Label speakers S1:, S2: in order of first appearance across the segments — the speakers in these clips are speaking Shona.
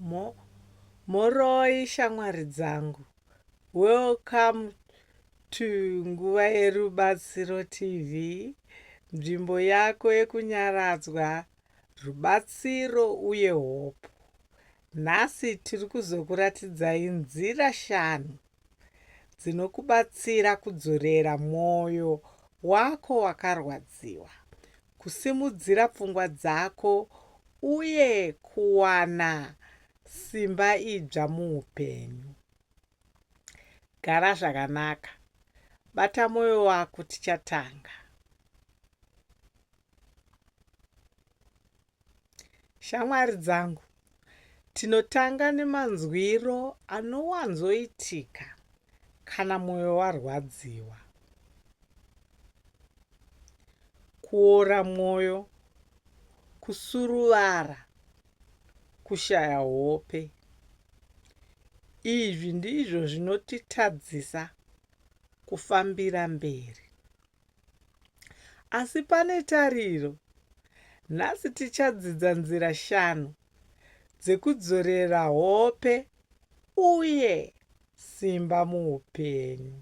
S1: Mho mhoroi shamwari dzangu. Welcome to Nguva yeRubatsiro TV, nzvimbo yako yekunyaradzwa, rubatsiro uye hope. Nhasi tiri kuzokuratidzai nzira shanu dzinokubatsira kudzorera mwoyo wako wakarwadziwa, kusimudzira pfungwa dzako, uye kuwana simba idzva muupenyu. Gara zvakanaka. Bata mwoyo wako tichatanga. Shamwari dzangu, tinotanga nemanzwiro anowanzoitika kana mwoyo warwadziwa. Kuora mwoyo, kusuruvara, kushaya hope. Izvi ndizvo zvinotitadzisa kufambira mberi. Asi pane tariro. Nhasi tichadzidza nzira shanu dzekudzorera hope uye simba muupenyu.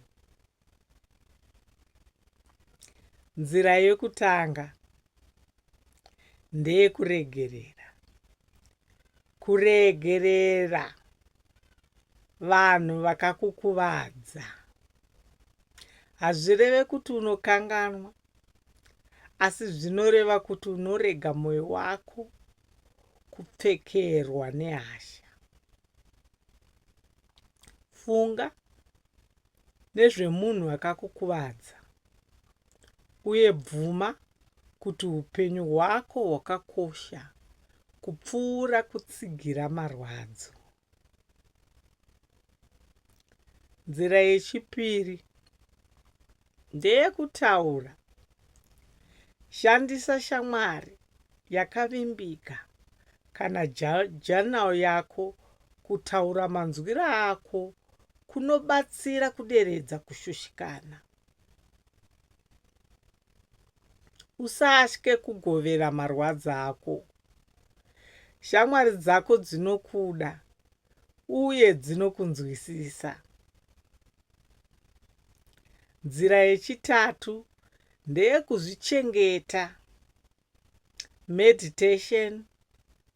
S1: Nzira yekutanga ndeyekuregerera. kuregerera vanhu vakakukuvadza hazvireve kuti unokanganwa asi zvinoreva kuti unorega mwoyo wako kupfekerwa nehasha funga nezvemunhu akakukuvadza uye bvuma kuti upenyu hwako hwakakosha kupfuura kutsigira marwadzo. Nzira yechipiri ndeyekutaura. Shandisa shamwari yakavimbika kana journal yako kutaura manzwiro ako kunobatsira kuderedza kushushikana. usatye kugovera marwadzo ako shamwari dzako dzinokuda uye dzinokunzwisisa nzira yechitatu ndeyekuzvichengeta meditation,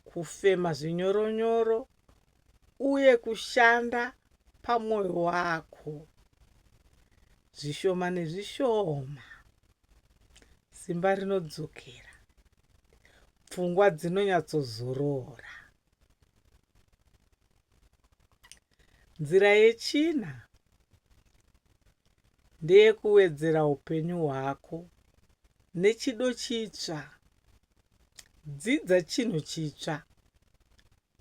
S1: kufema zvinyoronyoro uye kushanda pamwoyo wako zvishoma nezvishoma simba rinodzokera pfungwa dzinonyatsozorora nzira yechina ndeyekuwedzera upenyu hwako nechido chitsva. Dzidza chinhu chitsva.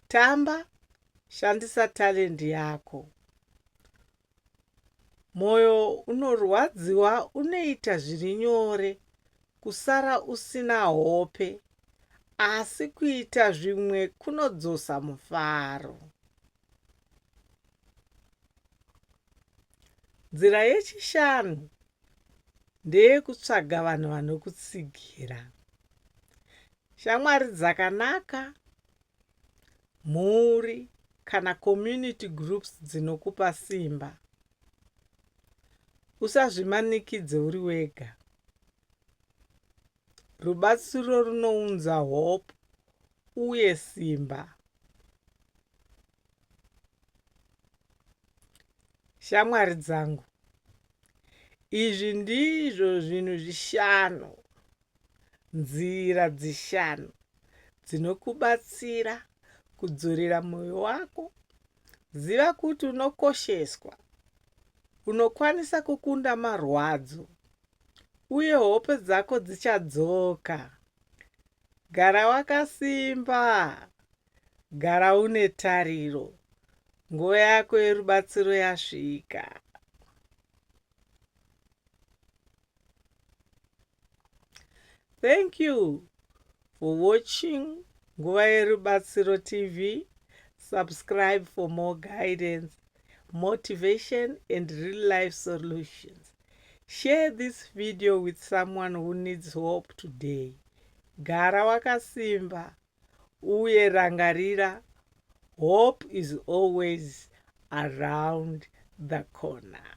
S1: Tamba, shandisa talendi yako. Mwoyo unorwadziwa unoita zviri nyore kusara usina hope, asi kuita zvimwe kunodzosa mufaro. Nzira yechishanu ndeyekutsvaga vanhu vanokutsigira shamwari dzakanaka mhuri kana community groups dzinokupa simba usazvimanikidze uri wega rubatsiro runounza hope uye simba Shamwari dzangu, izvi ndizvo zvinhu zvishanu, nzira dzishanu dzinokubatsira kudzorera mwoyo wako. Ziva kuti unokosheswa, unokwanisa kukunda marwadzo, uye hope dzako dzichadzoka. Gara wakasimba, Gara une tariro. Nguva yako yerubatsiro yasvika. Thank you for watching Nguva Yerubatsiro TV. Subscribe for more guidance, motivation, and real life solutions. Share this video with someone who needs hope today. Gara wakasimba. uye rangarira hope is always around the corner